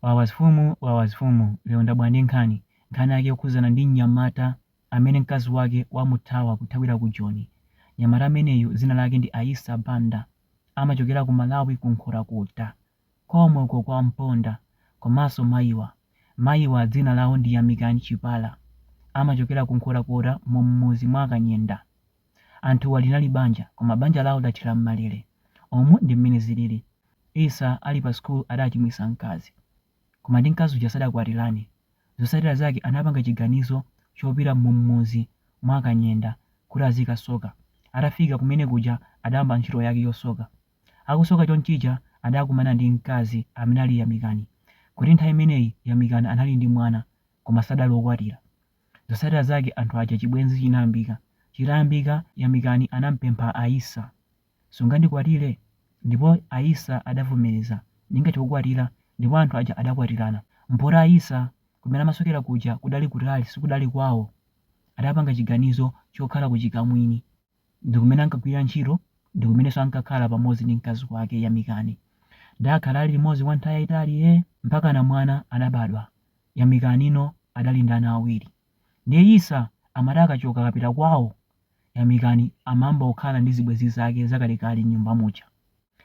Wawa azifumu wawa azifumu lero ndabwera ndi nkhani, nkhani yake yokhudzana ndi mnyamata amene mkazi wake wamuthawa kuthawira ku Joni. Mnyamata ameneyu dzina lake ndi Aissa Banda amachokera ku Malawi ku Nkhotakota komweko kwa Mponda komanso mayiwa. Mayiwa dzina lawo ndi Yamikani Chipala amachokera ku Nkhotakota mu m'mudzi mwa Kanyenda. Anthuwa linali banja koma banja lawo lathera m'malele. Umu ndi mmene zilili. Issa ali pa school adachimwisa mkazi. Koma ndi mkazi uja sadakwatirane. Zotsatira zake anapanga chiganizo chopita m'mudzi mwa Kanyenda kuti azikasoka. Atafika kumene kuja adayamba ntchito yake yosoka. Akusoka chonchija adakumana ndi mkazi amene ali Yamikani. Poti nthawi imeneyi Yamikani anali ndi mwana koma sadali okwatira. Zotsatira zake anthu aja chibwenzi chinayambika. Chitayambika, Yamikani anampempha Aissa, Sungandikwatire? Ndipo Aissa adavomereza, Ndingathe kukwatira, ndipo anthu aja adakwatirana. Poti Aissa kumene amasokera kuja kudali kutali, sikudali kwawo. Adapanga chiganizo chokhala kuchikamwini. ndi kumene ankagwirira ntchito ndi kumenenso ankakhala pamodzi ndi mkazi wake Yamikani. Adakhala ali limodzi kwa nthawi yayitali ee! Mpakana mwana adabadwa. Yamikani no adali ndi ana awiri. Ndiye Issa amati akachoka akapita kwawo, Yamikani amayamba kukhala ndi zibwenzi zake zakalekale m'nyumba muja.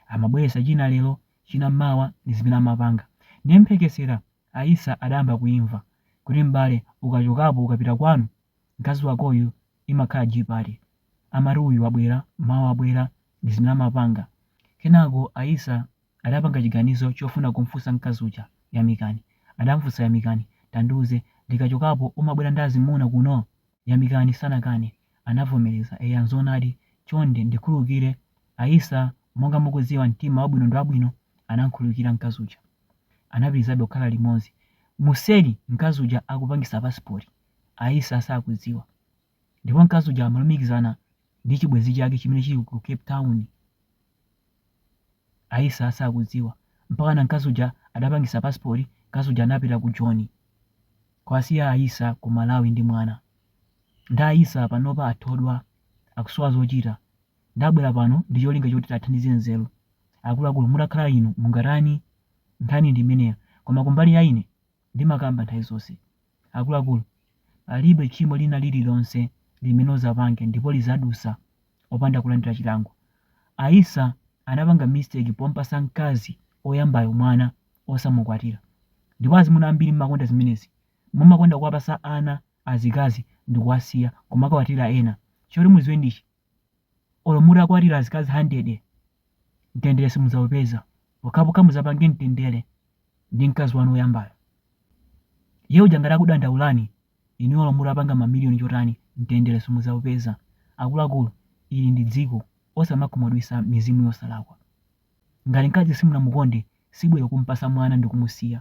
Amabweretsa china lero, china mawa ndi zimene amapanga. Ndiye mphekesera a Issa adayamba kuyimva, kuti m'bale ukachokapo ukapita kwanu, Mkazi wakoyu imakhala G pati? Amati uyu wabwera, mawa wabwera, ndizimene amapanga. Kenako a Issa adapanga chiganizo chofuna kumfunsa mkazi uja, Yamikani. Adamfunsa Yamikani, Tandiuze, ndikachokapo umabwera ndi azimuna kuno? Yamikani sanakane, anavomereza, Eya nzoonadi, chonde ndikhululukire a Issa monga mukudziwa mtima wabwino ndiwabwino, anamkhululukira mkazi uja. Anapitilizabe kukhala limodzi. Mumseri mkazi uja akupangitsa pasipoti. Aissa sakudziwa. Ndipo mkazi uja amalumikizana ndi chibwenzi chake chimene chili ku Cape Town. Aissa sakudziwa. Mpakana mkazi uja adapangisa passport, mkazi uja anapita ku Joni. Kuwasiya Aissa ku Malawi ndi mwana. Nde Aissa panopa athedwa, akusowa zochita. Ndabwera pano ndi cholinga choti tiwathandize nzeru. Akuluakulu mutakhala inu mungatani? Nkhani ndi imeneyo. Koma kumbali ya ine. Ndimakamba nthawi zonse, akuluakulu, palibe tchimo lina lililonse limene uzapange ndipo lizadusa opanda kulandila chilango. Aissa anapanga mistake pompasa mkazi oyambayo mwana osamukwatila. Ndipo azimuna ambiri mumakonda zimenezi. Mumakonda kuwapasa ana azikazi ndikuwasiya kumakakwatila ena. Choti muziwe ndichi. Olo mutakwatira azikazi handede, mtendere simudzaupeza pokhapokha mudzapange mtendere ndi mkazi wanu woyambayo. Iye uja ngati akudandaulani, inuyo olo mutapanga mamiliyoni chotani, mtendere simudzaupeza. Akuluakulu, ili ndi dziko, osamakhumudwitsa mizimu yosalakwa. Ngati mkazi simunamukonde, sibwino kum'patsa mwana ndi kumusiya.